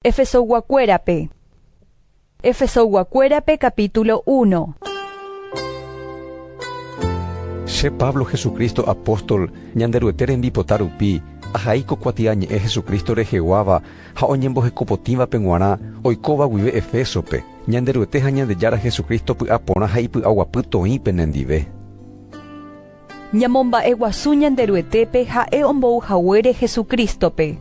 Efesoyguakuérape Efesoyguakuérape capítulo 1 Che Pablo Jesucristo apóstol Ñanderuete rembipota rupi, ahai ko kuatiañe'ẽ Jesucristo reheguáva ha oñembohekopotĩvape g̃uarã oikóva guive Efésope, Ñanderuete ha Ñandejára Jesucristo py'aporã ha ipy'aguapy toĩ penendive. Ñamomba'eguasu Ñanderuetépe ha'e ombou haguére Jesucristo-pe.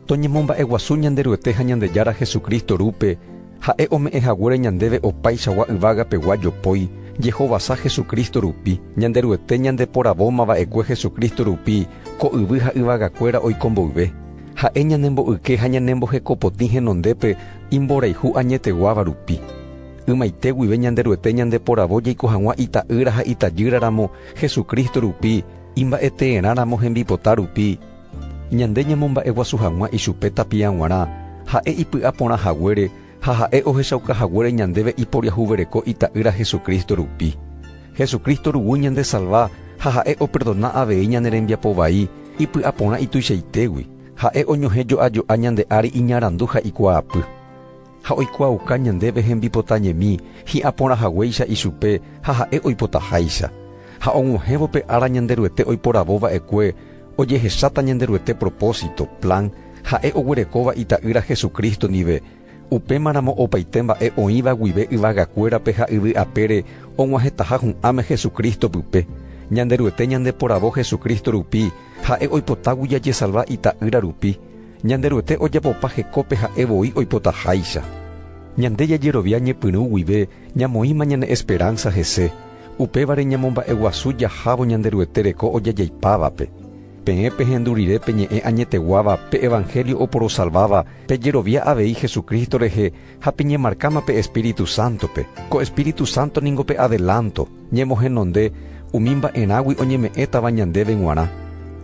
Toñemomba'eguasu Ñanderuete ha Ñandejára Jesucristo rúpe, ha'e ome'ẽ haguére ñandéve opaichagua yvagapegua jopói, jehovasa Jesucristo rupi. Ñanderuete ñandeporavóma va'ekue Jesucristo rupi ko yvy ha yvagakuéra oiko mboyve. Ha'e ñanembo'yke ha ñanembohekopotĩ henondépe imborayhu añeteguáva rupi. Ymaite guive Ñanderuete ñandeporavo jaiko hag̃ua Ita'ýra ha Itajýra ramo, Jesucristo rupi, imba'eteerã ramo hembipota rupi. Ñande ñamomba'eguasu hag̃ua ichupe tapia g̃uarã, ha'e ipy'a porã haguére ha ha'e ohechauka haguére ñandéve iporiahuvereko Ita'ýra Jesucristo rupi. Jesucristo ruguy ñandesalva ha ha'e operdona avei ñane rembiapo vai ipy'a porã ituichaitégui, ha'e oñohẽ jo'a jo'a ñande ári iñarandu ha ikuaapy. ha oikuaauka ñandéve hembipota ñemi hi'ã porã haguéicha ichupe ha ha'e oipotaháicha, ha og̃uahẽvo pe ára Ñanderuete oiporavo va'ekue ojehecháta Ñanderuete propósito, plan, ha'e oguerekóva Ita'ýra Jesucristo ndive, upémaramo opaite mba'e oĩva guive yvagakuérape ha yvy apére og̃uahẽtaha hu'ãme Jesucristo pype, Ñanderuete ñandeporavo Jesucristo rupi ha'e oipotágui jajesalva Ita'ýra rupi, Ñanderuete ojapopa hekópe ha'e voi oipotaháicha. Ñande jajerovia ñepyrũ guive ñamoĩma ñane esperánsa hese, upévare ñamomba'eguasu jahávo Ñanderuete reko ojajaipávape. Peẽ pehendu rire pe ñe'ẽ añeteguáva pe evanhélio oporosalváva pejerovia avei Jesucristo rehe Ha peñemarkáma pe Espíritu Sántope. Ko Espíritu Sánto ningo pe adelánto, ñemohenonde umi mba'erãgui oñeme'ẽtava ñandéve g̃uarã.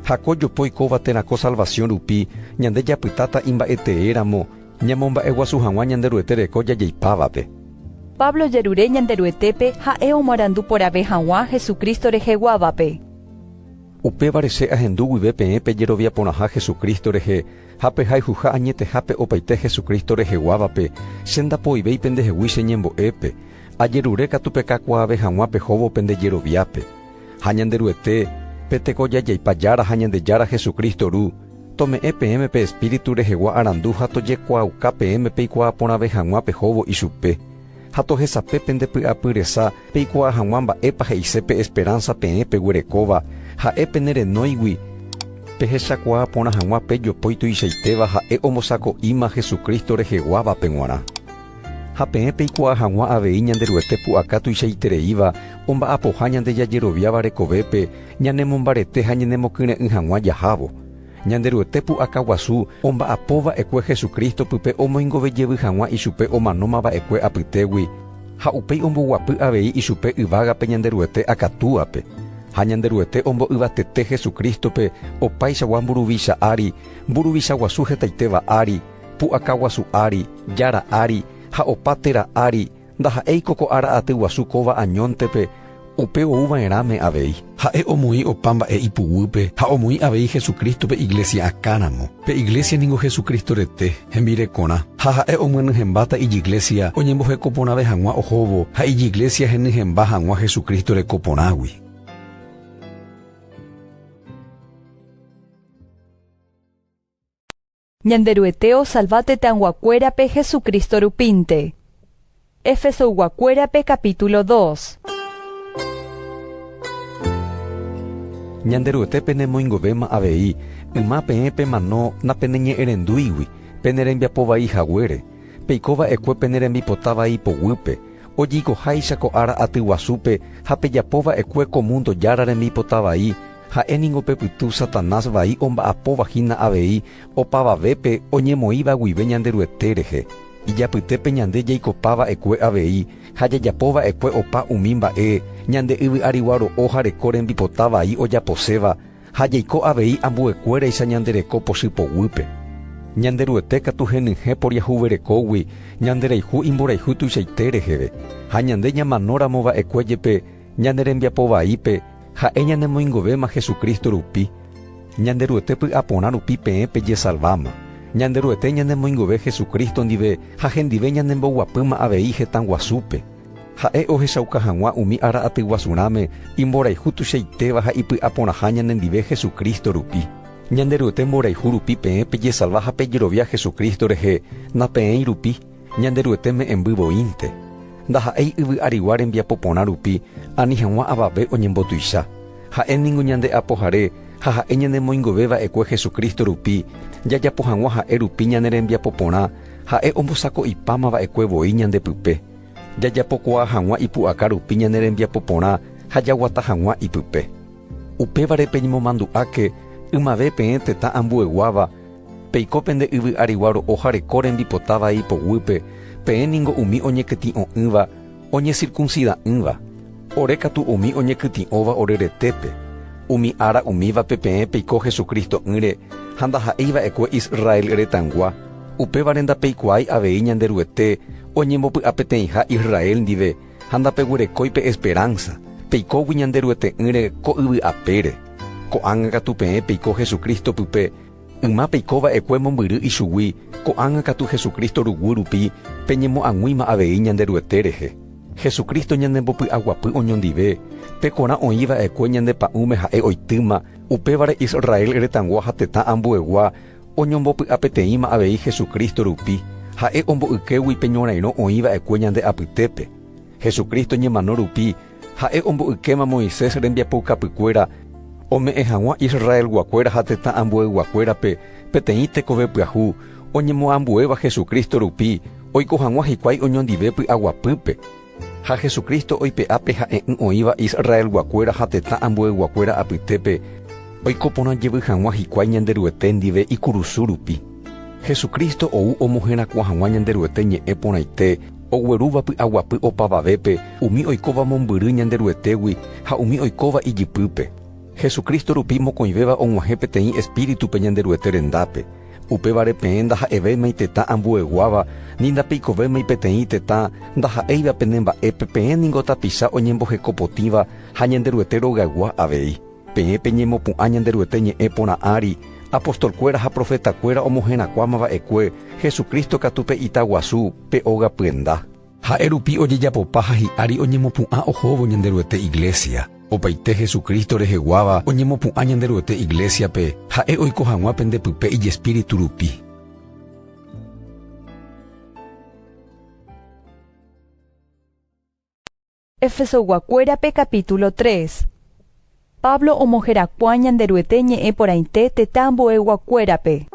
Ha ko jopo oikóva térã ko salvasiõ rupi, ñande japytáta imba'eteéramo ñamomba'eguasu hag̃ua Ñanderuete reko jajeipávape. Pablo jerure Ñanderuetépe ha'e omarandu porãve hag̃ua Jesucristo reheguávape. Upévare che ahendu guive peẽ pejerovia porãha Jesucristo rehe, Ha pe hayhuha añetehápe opaite Jesucristo reheguávape, che ndapoivéi pendehegui che ñembo'épe, ajerure katu pekakuaave hag̃ua pehóvo pende jeroviápe. Ha Ñanderuete, pe Tekojajaipa Jára ha Ñandejára Jesucristo Ru, tome'ẽ peẽme pe Espíritu rehegua arandu ha tojekuaauka peẽme peikuaa porãve hag̃ua pehóvo ichupe, ha tohesape pende py'apy resa Peikuaa hag̃ua mba'épa he'ise pe esperánsa peẽ peguerekóva, ha'e pene renóigui. Pehechakuaa porã hag̃ua pe jopói tuichaitéva ha'e ombosako'íma Jesucristo reheguávape g̃uarã. Ha peẽ peikuaa hag̃ua avei Ñanderuete pu'aka tuichaitereíva omba'apoha ñande jajeroviáva rekovépe ñanemombarete ha ñanemokyre'ỹ hag̃ua jahávo. Ñanderuete pu'aka guasu omba'apo va'ekue Jesucristo pype omoingove jevy hag̃ua ichupe omanóma va'ekue apytégui, ha upéi omboguapy avei ichupe yvágape Ñanderuete akatúape. Ha Ñanderuete ombo'yvatete Jesucristo-pe opaichagua mburuvicha ári, mburuvicha guasu hetaitéva ári, pu'aka guasu ári, jára ári, ha opa téra ári, Ndaha'éiko ko ára aty guasu kóva añóntepe upe ou va'erãme avei. Ha'e omoĩ opa mba'e ipuguýpe ha omoĩ avei Jesucristo-pe iglesia akãramo. Pe iglesia ningo Jesucristo rete, hembirekorã. Ha ha'e omyenyhẽmbáta ijiglesia oñemboheko porãve hag̃ua ohóvo ha ijiglesia henyhẽmba hag̃ua Jesucristo reko porãgui. Ñanderuete osalva tetãyguakuérape Jesucristo rupínte. Efesoyguakuérape capítulo dos. Ñanderuete penemoingovéma avei, yma peẽ pemano napeneñe'ẽrendúigui, pene rembiapo vai haguére, peiko va'ekue pene rembipota vai poguýpe, ojeikoháicha ko ára aty guasúpe ha pejapo va'ekue ko mundo jára rembipota vai, Ha'e ningo pe pytu Satanás vai omba'apóva hína avei opavavépe oñemoĩva guive Ñanderuete rehe, ijapytépe ñande jaikopa va'ekue avei ha jajapo va'ekue opa umi mba'e ñande yvy'arigua ro'o ha reko rembipota vai ojaposéva ha jaiko avei ambuekuéraicha ñande reko pochy poguýpe. Ñanderuete katu henyhẽ poriahuverekógui ñanderayhu imborayhu tuichaite reheve, ha ñande ñamanóramo va'ekue jepe, Ñane rembiapo vaípe ha'e ñanemoingovéma Jesucristo rupi, Ñanderuete py'aporã rupi peẽ pejesalváma. Ñanderuete ñanemoingove Jesucristo ndive ha hendive ñanemboguapýma avei hetã guasúpe. Ha'e ohechauka hag̃ua umi ára atyguasu rãme imborayhu tuichaitéva ha ipy'aporãha ñanendive Jesucristo rupi. Ñanderuete mborayhu rupi peẽ pejesalva ha pejerovia Jesucristo rehe, napeẽi rupi. Ñanderuete me'ẽmby voínte, ndaha'éi yvy arigua rembiapo porã rupi ani hag̃ua avave oñembotuicha. Ha'e ningo ñande Apohare ha ha'e ñanemoingove va'ekue Jesucristo rupi, jajapo hag̃ua ha'e rupi ñane rembiapo porã, ha'e ombosako'ipáma va'ekue voi ñande pype. Jajapokuaa hag̃ua ipu'aka rupi ñane rembiapo porã ha jaguata hag̃ua ipype. Upévare peñemomandu'áke ymave peẽ tetã ambueguáva, peiko pende yvy arigua ro'o jareko rembipota vai ipoguýpe, peẽ ningo umi oñekytĩ'o'ỹva oñesirkunsida'ỹva, ore katu umi oñekytĩ'óva ore retépe. Umi ára umívape peẽ peiko Hesu Cristo'ỹre ha ndaha'éi va'ekue Israel retãgua, upévare ndapeikuaái avei Ñanderuete oñembopy'apeteĩha Israel ndive, ha ndapeguerekói pe esperánsa, peikógui Ñanderuete'ỹre ko yvy apére. Ko'ág̃a katu peẽ peiko Jesucristo pype, yma peiko va'ekue mombyry ichugui, ko'ág̃a katu Jesucristo ruguy rupi peñemoag̃uíma avei Ñanderuete rehe. Jesucristo ñanembopy'aguapy oñondive, pe korã oĩ va'ekue ñande pa'ũme Ha'e oitýma, upévare Israel retãgua ha tetã ambuegua, Oñombopy'apeteĩma avei Jesucristo rupi, ha'e ombo'ykégui pe ñorairõ oĩ va'ekue ñande apytépe. Jesucristo ñemano rupi, ha'e ombo'ykéma Moisés rembiapoukapykuéra ome'ẽ hag̃ua Israelguakuéra ha tetã ambueyguakuérape peteĩ tekove pyahu oñemoambuéva Jesucristo rupi oiko hag̃ua hikuái oñondive py'aguapýpe. Ha Jesucristo oipe'a pe ha'e'ỹ oĩva Israelguakuéra ha tetã ambueyguakuéra apytépe oiko porã jevy hag̃ua hikuái Ñanderuete ndive ikurusu rupi. Jesucristo ou omoherakuã hag̃ua Ñanderuete ñe'ẽ porãite oguerúva py'aguapy opavavépe umi oikóva mombyry Ñanderuetégui ha umi oikóva ijypýpe. Jesucristo rupi mokõivéva og̃uahẽ peteĩ Espíritu pe Ñanderuete rendápe. Upévare peẽ ndaha'evéimai tetã ambueguáva, ni ndapeikovéimai peteĩ tetã ndaha'éiva pene mba'épe peẽ ningo tapicha oñemboheko potĩva ha Ñanderuete rogaygua avei. Peẽ peñemopu'ã Ñanderuete ñe'ẽ porã ári, apostolkuéra ha profetakuéra omoherakuãma va'ekue, Jesucristo katu pe ita guasu, pe óga pyenda. Ha'e rupi ojejapopa ha hi'ári oñemopu'ã ohóvo Ñanderuete iglésia. Opaite Jesucristo reheguáva oñemopu'ã Ñanderuete iglésiape, ha'e oiko hag̃ua pende pype ijespíritu rupi. Efesoguakuérape capítulo 3 Pablo omoherakuã Ñanderuete ñe'ẽ porãite tetã ambueyguakuérape.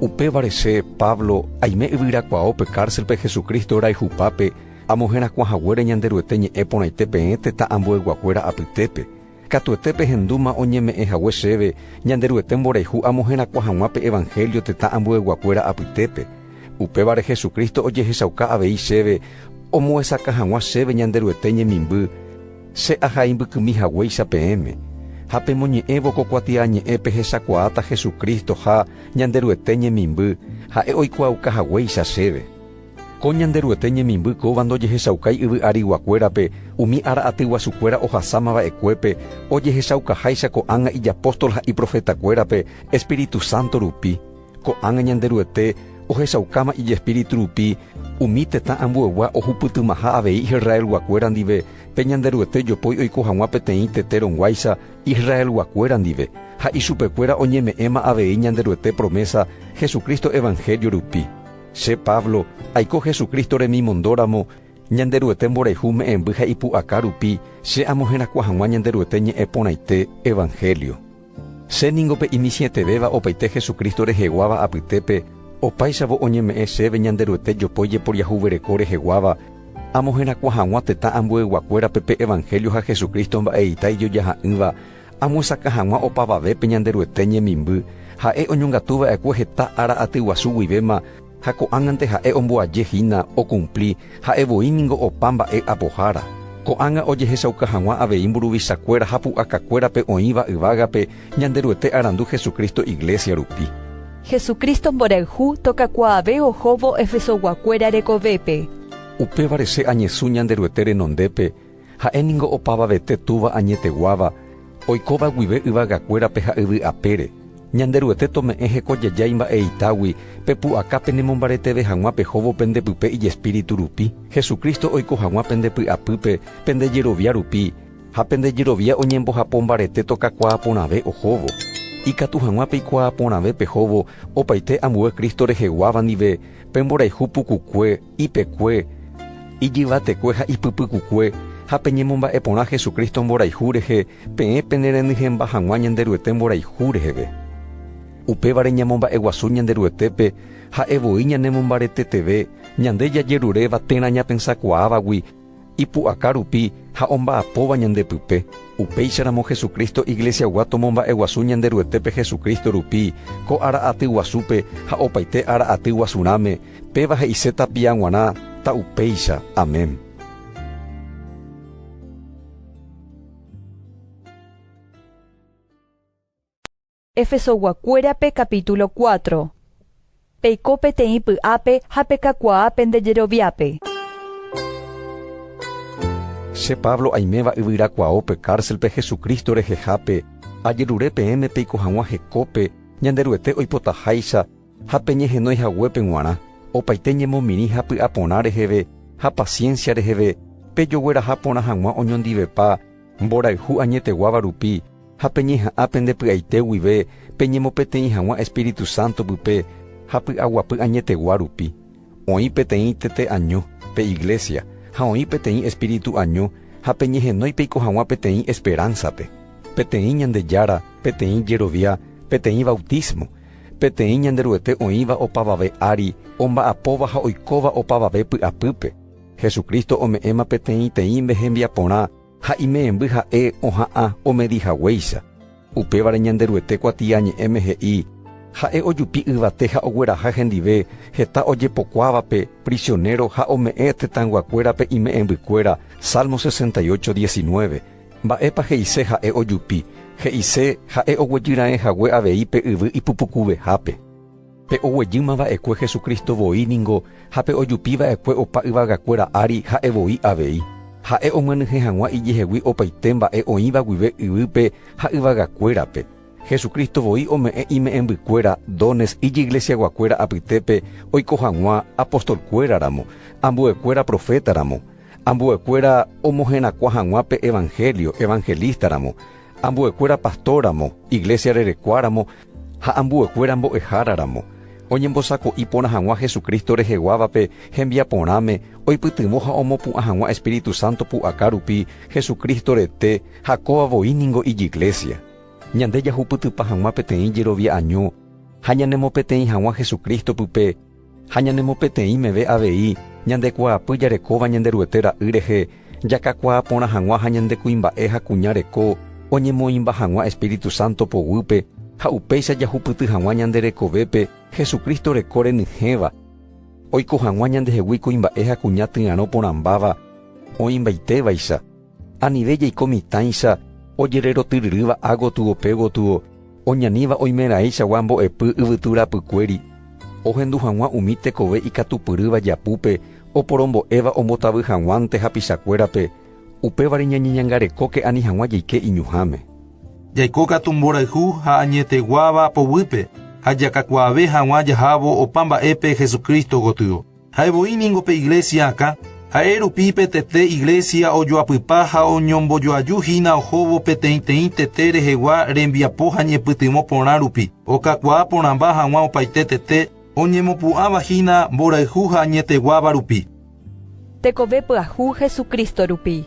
Upévare che, Pablo, aime yvyrakuaáo pe kárselpe Jesucristo rayhupápe, amoherakuã haguére Ñanderuete ñe'ẽ porãite peẽ tetã ambueyguakuéra apytépe, Katuete pehendúma oñeme'ẽ hague chéve Ñanderuete mborayhu amo herakuã hag̃ua pe evanhélio tetã ambueyguakuéra apytépe. Upévare Jesucristo ojehechauka avei chéve omoesakã hag̃ua chéve Ñanderuete ñemimby, che aha imbykymi haguéicha peẽme. Ha pemoñe'ẽvo ko kuatiañe'ẽ pehechakuaáta Jesucristo ha Ñanderuete ñemimby, ha'e oikuaauka haguéicha chéve. Ko Ñanderuete ñemimby kóva ndojehechaukái yvy ariguakuérape umi ára atyguasukuéra ohasáma va'ekuépe, ojehechaukaháicha ko'ág̃a ijapóstol ha iprofetakuérape espíritu sánto rupi. Ko'ág̃a Ñanderuete ohechaukáma ijespíritu rupi umi tetã ambueygua ohupytymaha avei Israelguakuéra ndive pe Ñanderuete jopói oiko hag̃ua peteĩ tete rõguáicha Israelguakuéra ndive, ha ichupekuéra oñeme'ẽma avei Ñanderuete promésa Jesucristo evanhélio rupi. Che Pablo, aiko Jesucristo remimondóramo, Ñanderuete mborayhu me'ẽmby ha ipu'aka rupi, che amoherakuã hag̃ua Ñanderuete ñe'ẽ porãite, evangelio. Che ningo pe imitĩetevéva opaite Jesucristo reheguáva apytépe, opáichavo oñeme'ẽ chéve Ñanderuete jopói jeporiahuvereko reheguáva, amoherakuã hag̃ua tetã ambueyguakuérape pe evangelio ha Jesucristo mba'eita ijojaha'ỹva, Amyesakã hag̃ua opavavépe Ñanderuete ñemimby, ha'e oñongatu va'ekue heta ára aty guasu guivéma ha ko'ág̃ante ha'e omboaje hína okumpli ha'e voi ningo opa mba'e apohára. Ko'ág̃a ojehechauka hag̃ua avei mburuvichakuéra ha pu'akakuérape oĩva yvágape Ñanderuete arandu Jesucristo iglesia rupi. Jesucristo mborayhu tokakuaave ohóvo Efesoguakuéra rekovépe. Upévare che añesũ Ñanderuete renondépe Ha'e ningo opavavete Túva añeteguáva, oikóva guive yvagakuérape ha yvy apére. Ñanderuete tome'ẽ hekojeja imba'eitágui, pe pu'aka penemombareteve hag̃ua pehóvo pende pype ijespíritu rupi, Jesucristo oiko hag̃ua pende py'apýpe, pende jerovia rupi, ha pende jerovia oñembohapo mbarete tokakuaa porãve ohóvo. Ikatu hag̃ua peikuaa porãve pehóvo opaite ambue Cristo reheguáva ndive, pe mborayhu pukukue, ipekue, ijyvatekue ha ipypykukue, ha peñemomba'e porã Jesucristo mborayhu rehe, peẽ penerenyhẽmba hag̃ua Ñanderuete mborayhu reheve. Upévare ñamomba'eguasu Ñanderuetépe ha'e voi ñanemombareteteve, ñande jajeruréva térã ñapensakuaávagui, ipu'aka rupi ha omba'apóva ñande pype, upéicharamo Jesucristo Iglesiagua tomomba'eguasu Ñanderuetépe Jesucristo rupi ko ára aty guasúpe ha opaite ára aty guasurãme, péva he'ise tapia g̃uarã, ta upéicha. Amén. Efesoguakuérape capítulo cuatro. Peiko peteĩ py'ápe ha pekakuaa pende jeroviápe. Che Pablo aiméva yvyrakuaópe kárselpe Jesucristo rehehápe, ajerure peẽme peiko hag̃ua hekópe Ñanderuete oipotaháicha ha peñehenói haguépe g̃uarã, opaite ñemomirĩ ha py'aporã reheve ha paciencia reheve, pejogueraha porã hag̃ua oñondivepa, Mborayhu añeteguáva rupi, ha peñeha'ã pende py'aite guive peñemopeteĩ hag̃ua Espíritu Santo pype ha py'aguapy añetegua rupi. Oĩ peteĩ tete año, pe iglesia, ha oĩ peteĩ espíritu año ha peñehenói peiko hag̃ua peteĩ esperánsape, peteĩ Ñandejára, peteĩ jerovia, peteĩ bautismo, peteĩ Ñanderuete oĩva opavave ári, omba'apóva ha oikóva opavave py'apýpe. Jesucristo ome'ẽma peteĩteĩnde hembiaporã ha imemby ha'e oha'ã omedi haguéicha. Upévare Ñanderuete kuatiañe'ẽme he'i, Ha'e ojupi yvate ha ogueraha hendive heta ojepokuávape prisionero ha ome'ẽ tetãyguakuérape ime'ẽmbykuéra, Salmo 68, 19. Mba'épa he'ise ha'e ojupi? He'ise ha'e oguejy raẽ hague avei pe yvy ipupukuvehápe. Pe oguejýma va'ekue Jesucristo voi ningo ha pe ojupi va'ekue opa yvagakuéra ári ha'e voi avei. Ha'e omyenyhẽ hag̃ua ijehegui opaite mba'e oĩva guive yvýpe ha yvagakuérape. Jesucristo voi ome'ẽ ime'ẽmbykuéra, dones, ijiglesiaguakuéra apytépe oiko hag̃ua apostolkuéra ramo, ambuekuéra profeta ramo, ambuekuéra omoherakuã hag̃ua pe evangelio, evangelista ramo, ambuekuéra pastor ramo, iglesia rerekua ramo, ha ambuekuéra mbo'ehára ramo, oñembosako'i porã hag̃ua Jesucristo reheguávape hembiaporãme oipytyvõ ha omopu'ã hag̃ua Espíritu Santo pu'aka rupi Jesucristo rete ha kóva voi ningo ijiglésia. Ñande jahupytypa hag̃ua peteĩ jerovia año ha ñanemopeteĩ hag̃ua Jesucristo-pype Ha ñanemopeteĩ meve avei ñande kuaapy jarekóva Ñanderuete ra'y rehe, jakakuaa porã hag̃ua ha ñande kuimba'e ha kuña reko oñemoĩmba hag̃ua Espíritu Santo poguýpe, ha upéicha jahupyty hag̃ua ñande rekovépe Jesucristo reko renyhẽva, oiko hag̃ua ñandehegui kuimba'e ha kuña tyarõ porãmbáva oĩmbaite vaicha. Anive jaiko mitãicha ojererotyryrýva ha gotygope gotygo oñaníva oimeraẽichagua mbo'epy yvytu rapykuéri, ohendu hag̃ua umi tekove ikatupyrýva japúpe oporombo'éva ombotavy hag̃uánte hapichakuérape, upévare ñañeñangarekóke ani hag̃ua jaike iñuhãme. Jaiko katu mborayhu ha añeteguáva poguýpe ha jakakuaave hag̃ua jahávo opa mba'épe Jesucristo gotyo. Ha'e voi ningo pe iglésia akã, ha'e rupi pe tete iglésia ojoapypa ha oñombojoaju hína ohóvo peteĩteĩ tete rehegua rembiapo ha ñepytyvõ porã rupi, okakuaa porãmba hag̃ua opaite tete oñemopu'ãva hína mborayhu ha añeteguáva rupi. Tekove pyahu Jesucristo rupi.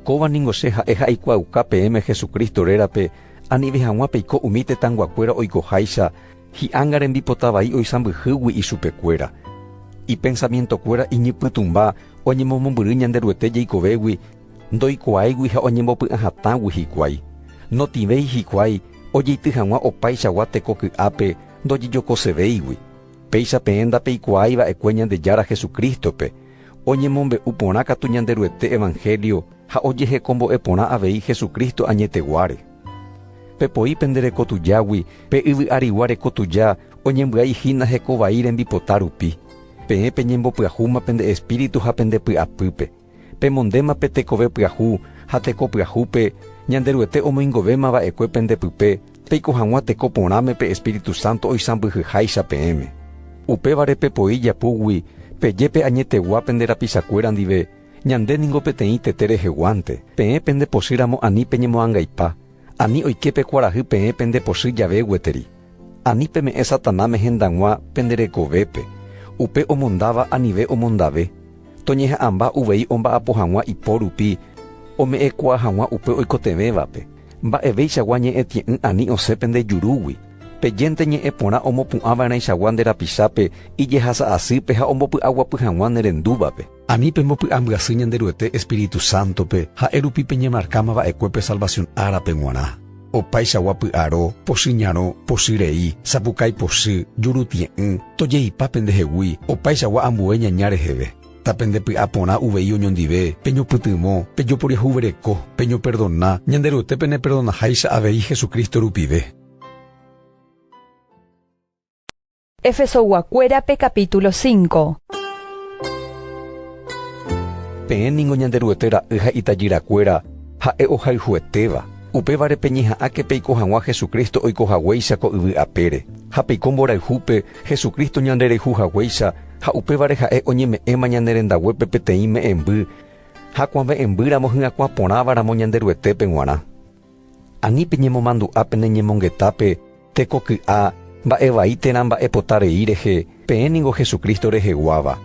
Kóva ningo che ha'e ha aikuaauka peẽme Jesucristo rérape, anive hag̃ua peiko umi tetãnguakuéra oikoháicha, Hi'anga rembipota vai oisãmbyhýgui ichupekuéra. Ipensamientokuéra iñypytũmba oñemomombyry Ñanderuete jeikovégui, ndoikuaáigui ha oñembopy'ã hatãgui hikuái. Notĩvéi hikuái ojeity hag̃ua opaichagua teko ky'ápe ndojejokosevéigui. Péicha peẽ ndapeikuaái va'ekue Ñandejára Jesucristo-pe, oñemombe'u porã katu Ñanderuete evangelio ha ojehekombo'e porã avei Jesucristo añeteguáre. Pepoi pende reko tujágui, pe yvy arigua reko tuja oñembyai hína heko vai rembipota rupi. Peẽ peñembopyahúma pende espíritu ha pende py'apýpe. Pemondéma pe tekove pyahu ha teko pyahúpe Ñanderuete omoingovéma va'ekue pende pype peiko hag̃ua teko porãme pe espíritu sánto oisãmbyhyháicha peẽme. Upévare pepoi japúgui peje pe añetegua pende rapichakuéra ndive, Ñande ningo peteĩ tete reheguánte, peẽ pende pochy ramo ani peñemoangaipa, ani oike pe kuarahy peẽ pende pochy jave gueteri. Ani peme'ẽ Satanáme hendag̃ua pende rekovépe, upe omondáva anive omondave, toñeha'ãmba uvei omba'apo hag̃ua ipo rupi ome'ẽkuaa hag̃ua upe oikotevẽvape, mba'evéichagua ñe'ẽtie'ỹ ani osẽ pende jurúgui, pejénte ñe'ẽ porã omopu'ãva'erãichagua nde rapichápe ijehasa asýpe ha ombopy'aguapy hag̃ua ne rendúvape. Ani pembopy'ambyasy Ñanderuete espíritu sántope, ha'e rupi peñemarkáma va'ekue pe salvasión árape g̃uarã. Opaichagua py'aro, pochy ñarõ, pochy rei, sapukái pochy, jurutie'ỹ, tojeipa pendehegui, opaichagua ambue ñaña reheve. Ta pendepy'a porã uvei oñondive, peñopytyvõ, pejoporiahuvereko, peñoperdona, Ñanderuete peneperdonaháicha avei Jesucristo rupive. Efesog̃uakuérape capítulo 5. Peẽ ningo Ñanderuete ra'y ha itajyrakuéra ha'e ohayhuetéva. Upévare peñeha'ãke peiko hag̃ua Jesucristo oiko haguéicha ko yvy apére, ha peiko mborayhúpe Jesucristo ñandereju haguéicha ha upévare ha'e oñeme'ẽma ñane rendaguépe peteĩ me'ẽmby ha kuave'ẽmbýramo hyakuã porãva ramo Ñanderuetépe g̃uarã. Ani peñemomandu'a pene ñemongetápe tekoky'a mba'e vai térã mba'epota rei rehe, peẽ ningo Jesucristo reheguáva.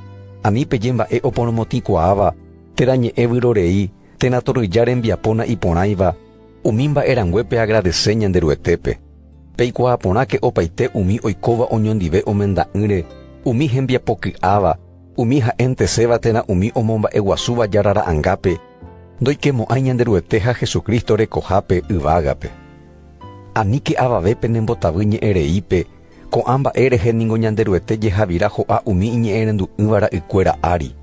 Ani peje mba'e oporomotĩkuaáva térã ñe'ẽ vyrorei térã torrýja rembiapóna iporãiva, umi mba'e rangue peagradese Ñanderuetépe. Peikuaa porãke opaite umi oikóva oñondive omenda'ỹre, umi hembiapoky'áva, umi ha'enteséva térã umi omomba'eguasúva Jára Ra'angápe, Ndoikemo'ãi Ñanderuete ha Jesucristo rekohápe yvágape. Aníke avave penembotavy ñe'ẽreípe, ko'ã mba'e rehe ningo Ñanderuete jehavira ho'a umi iñe'ẽrendu'ỹva ra'ykuéra ári.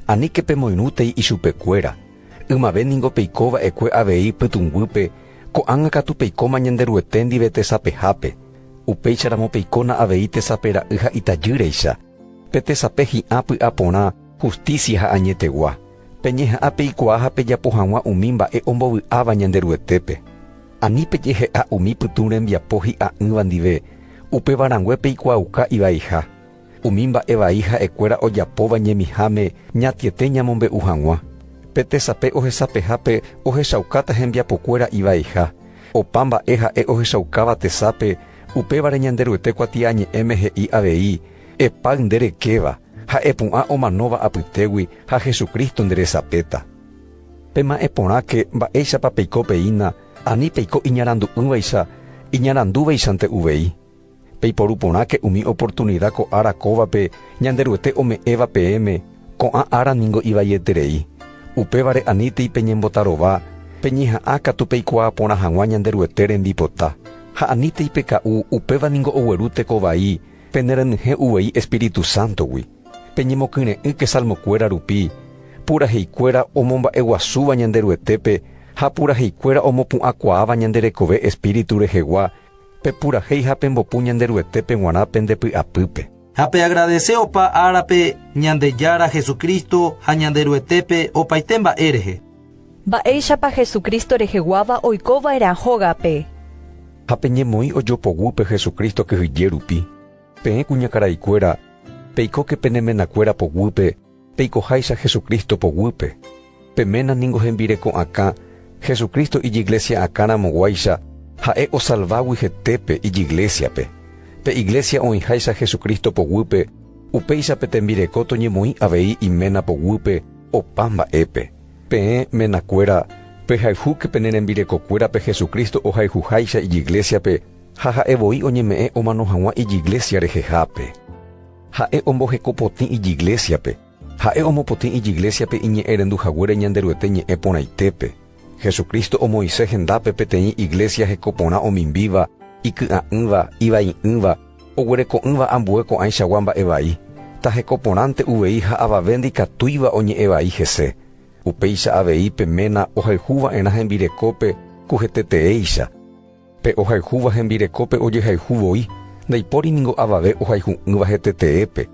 Aníke pemoirũtei ichupekuéra, ymave ningo peiko va'ekue avei pytũnguýpe, ko'ág̃a katu peikóma Ñanderuete ndive tesapehápe, upéicharamo peikóna avei tesape ra'y ha itajýreicha, pe tesape hi'ã py'aporã, hustísia ha añetegua. Peñeha'ã peikuaa ha pejapo hag̃ua umi mba'e ombovy'áva Ñanderuetépe. Ani pejehe'a umi pytũ rembiapo hi'a'ỹva ndive, upéva rangue peikuaauka ivaiha. Umi mba'e vai ha'ekuéra ojapóva ñemiháme ñatiete ñamombe'u hag̃ua. Pe tesape ohesapehápe ohechaukáta hembiapokuéra ivaiha. Opa mba'e ha'e ohechaukáva tesape, upévare Ñanderuete kuatiañe'ẽme he'i avei, Epáy nde rekéva, Ha'e pu'ã omanóva apytégui ha Jesucristo nderesapéta. Pema'ẽ porãke mba'éichapa peiko peína ani peiko iñarandu'ỹvaicha iñarandúvaichante uvei. Peiporu porãke umi oportunida ko ára kóvape Ñanderuete ome'ẽva peẽme, ko'ã ára ningo ivaieterei. Upévare anítei peñembotarova peñeha'ã katu peikuaa porã hag̃ua Ñanderuete rembipota. Ha anítei peka'u, upéva ningo ogueru teko vai Penerenyhẽ uvei Espíritu Sántogui, peñemokyre'ỹke salmokuéra rupi, puraheikuéra omomba'eguasúva Ñanderuetépe ha puraheikuéra omopu'ãkuaáva ñande rekove Espíritu rehegua, pepurahéi ha pembopu Ñanderuetépe g̃uarã pende py'apýpe. Ha peagradese opa árape Ñandejára Jesucristo ha Ñanderuetépe opaite mba'e rehe. Mba'éichapa Jesucristo reheguáva oiko va'erã hógape? Ha peñemoĩ ojopoguýpe Jesucristo kyhyje rupi, peẽ kuñakaraikuéra, peikóke pene menakuéra poguýpe peikoháicha Jesucristo poguýpe. Pe ména ningo hembireko'akã Jesucristo ijiglesia'akã ramoguáicha ha'e osalvágui hetépe ijiglesiape. Pe iglesia oĩháicha Jesucristo poguýpe, upéicha pe tembireko toñemoĩ avei iména poguýpe Opa mba'épe, peẽ menakuéra pehayhúke pene rembirekokuérape Jesucristo ohayhuháicha ijiglésiape ha ha'e voi oñeme'ẽ omano hag̃ua ijiglésia rehehápe. Ha'e omboheko potĩ ijiglésiape, ha'e omopotĩ ijiglésiape iñe'ẽrendu haguére Ñanderuete ñe'ẽ porãitépe. Jesucristo omoĩse hendápe peteĩ iglesia heko porã omimbíva, iky'a'ỹva, ivai'ỹva, oguereko'ỹva ambue ko'ãichagua mba'e vai, taheko porãnte uvei ha avave ndikatúiva oñe'ẽ vai hese. Upéicha avei pe ména ohayhu va'erã hembirekópe ku heteteéicha. Pe ohayhúva hembirekópe ojehayhu voi, ndaipóri ningo avave ohayhu'ỹva heteteépe.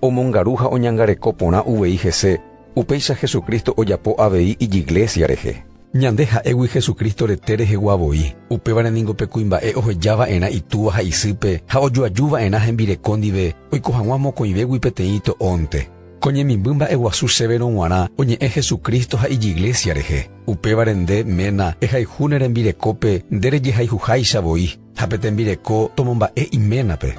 Omongaru ha oñangareko porã uvei hese, upéicha Jesucristo ojapo avei Ijiglésia rehe. Ñande ha'égui Jesucristo rete rehegua voi, upévare ningo pe kuimba'e oheja va'erã itúva ha isýpe ha ojoaju va'erã hembireko ndive oiko hag̃ua mokõivégui peteĩ ito'ónte. Ko ñemimby mba'eguasu chéverõ g̃uarã oñe'ẽ Jesucristo ha ijiglesia rehe. Upévare nde, ména, ehayhu ne rembirekópe nde rejehayhuháicha voi, ha pe tembireko tomomba'e iménape.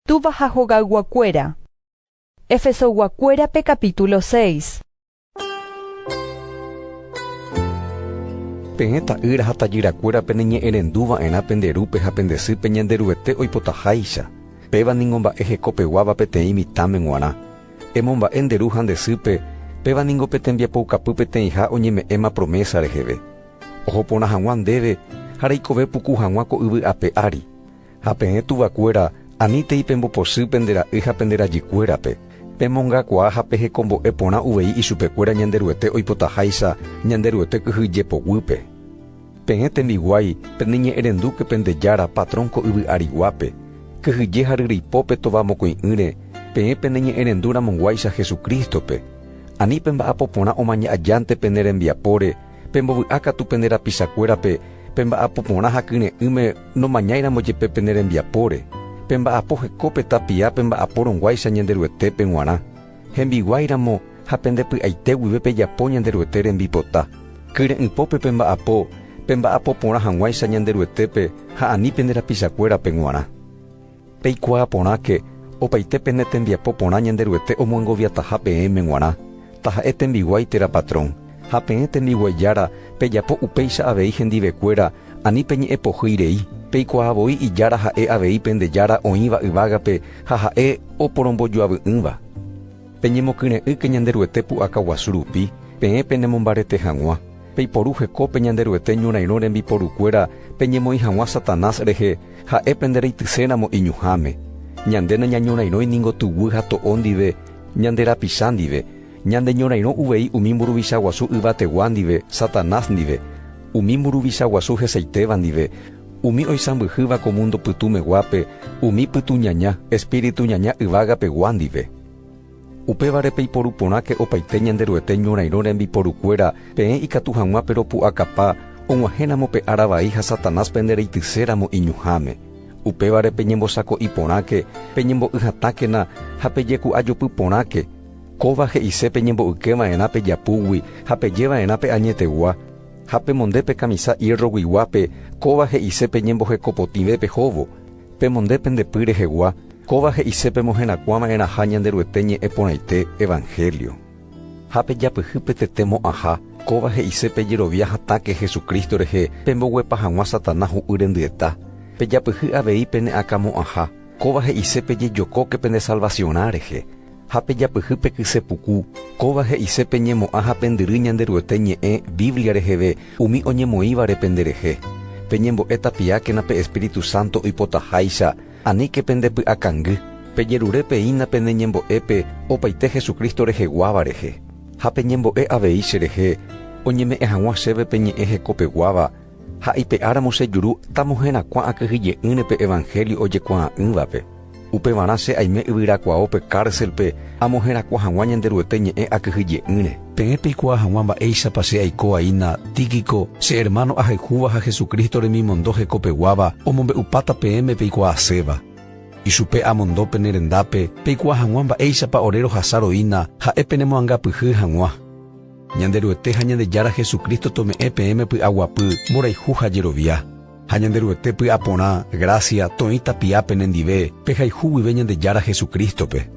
Túva ha hogayguakuéra. Efesoyguakuérape capítulo seis. Peẽ ta'ýra ha tajyrakuéra peneñe'ẽrendu va'erã pende rúpe ha pende sýpe Ñanderuete oipotaháicha, péva ningo mba'e hekopeguáva peteĩ mitãme g̃uarã. Emomba'e nde ru ha nde sýpe, péva ningo pe tembiapoukapy peteĩha oñeme'ẽma promésa reheve. Oho porã hag̃ua ndéve ha reikove puku hag̃ua ko yvy ape ári. Ha peẽ tuvakuéra, anítei pembopochy pende ra'y ha pende rajykuérape, pemongakuaa ha pehekombo'e porã uvei ichupekuéra Ñanderuete oipotaháicha Ñanderuete kyhy jepoguýpe. Peẽ tembiguái, peneñe'ẽrendúke pende Jára, patrón ko yvy ariguápe, kyhyje ha ryryipópe tova mokõi'ỹre, peẽ peneñe'ẽrendu ramonguáicha Jesucristo-pe, ani pemba'apo porã omaña ajánte pene rembiapóre, Pembovy'a katu pende rapichakuérape pe mba'apo porã ha kyre'ỹme nomañáiramo jepe pene rembiapóre. Pemba'apo heko pe tapia pemba'apórõguáicha Ñanderuetépe g̃uarã, hembiguáiramo ha pende py'aite guive pejapo Ñanderuete rembipota. Kyre'ỹpópe pemba'apo pemba'apo porã hag̃uáicha Ñanderuetépe ha ani pende rapichakuérape g̃uarã. Peikuaa porãke opaite pene tembiapo porã Ñanderuete omoengoviataha peẽme g̃uarã, taha'e tembiguái térã patrón, ha peẽ tembiguái jára pejapo upéicha avei hendivekuéra ani peñe'ẽpohýi rei, peikuaa voi ijára ha'e avei pende Jára oĩva yvágape ha ha'e oporombojoavy'ỹva. Peñemokyre'ỹke Ñanderuete pu'aka guasu rupi, peẽ penemombarete hag̃ua, Peiporu heko pe Ñanderuete ñorairõ rembiporukuéra peñemoĩ hag̃ua Satanás rehe, ha'e pende reityséramo iñuhãme. Ñande nañañorairõi ningo tuguy ha to'o ndive, ñande rapicha ndive. Ñande ñorairõ uvei umi mburuvicha guasu yvategua ndive, Satanás ndive, umi mburuvicha guasu hesaitéva ndive, umi oisãmbyhýva ko múndo pytũmeguápe, umi pytuñaña, espíritu ñaña yvágapegua ndive. Upévare peiporu porãke opaite Ñanderuete ñorairõ rembiporukuéra, peẽ ikatu hag̃ua peropu'akapa, og̃uahẽramo pe ára vai ha Satanás pende reityséramo iñuhãme. Upévare peñembosako'i porãke, peñembo'y hatãkena ha pejeku'ajopy porãke. Kóva he'ise peñembo'yke va'erã pe japúgui ha peje va'erã pe añetegua. Ha pemonde pe kamisa ierroguiguápe, kóva he'ise peñembohekopotĩve pe hóvo. Pemonde pende py rehegua, kóva he'ise pemoherakuã va'erãha Ñanderuete ñe'ẽ porãite, evangelio. Ha pejapyhy pe tete mo'ãha, kóva he'ise pejerovia hatãke Jesucristo rehe pemboguepa hag̃ua Satanás hu'y rendyeta. Pejapyhy avei pene akã mo'ãha, kóva he'ise pejejokóke pende salvaciorã rehe. Ha pejapyhy pe kyse puku, kóva he'ise peñemo'ã ha pendyry Ñanderuete ñe'ẽ Biblia reheve umi oñemoĩvare penderehe. Peñembo'e tapiákena pe Espíritu Santo oipotaháicha, aníke pende py'akangy. Pejerure peína pene ñembo'épe opaite Jesucristo reheguáva rehe. Ha peñembo'e avei cherehe, oñeme'ẽ hag̃ua chéve pe ñe'ẽ hekopeguáva, ha ipe'áramo chejuru tamoherakuã akyhyje'ỹre pe evangelio ojekuaa'ỹvape. Upevarã che aime yvyrakuaópe kárselpe amoherakuã hag̃ua Ñanderuete ñe'ẽ akyhyje'ỹre. Peẽ peikuaa hag̃ua mba'éichapa che aiko'aína Tíquico, che ermáno ahayhúva ha Jesucristo remimondo hekopeguáva omombe'upáta peẽme peikuaaséva. Ichupe amondo pene rendápe peikuaa hag̃ua mba'éichapa ore rohasa roína ha'e penemoangapyhy hag̃ua. Ñanderuete ha Ñandejára Jesucristo tome'ẽ peẽme py'aguapy, mborayhu ha jerovia. Ha Ñanderuete py'aporã, grásia, toĩ tapia pene ndive, pehayhu guive Ñandejára Jesucristo-pe.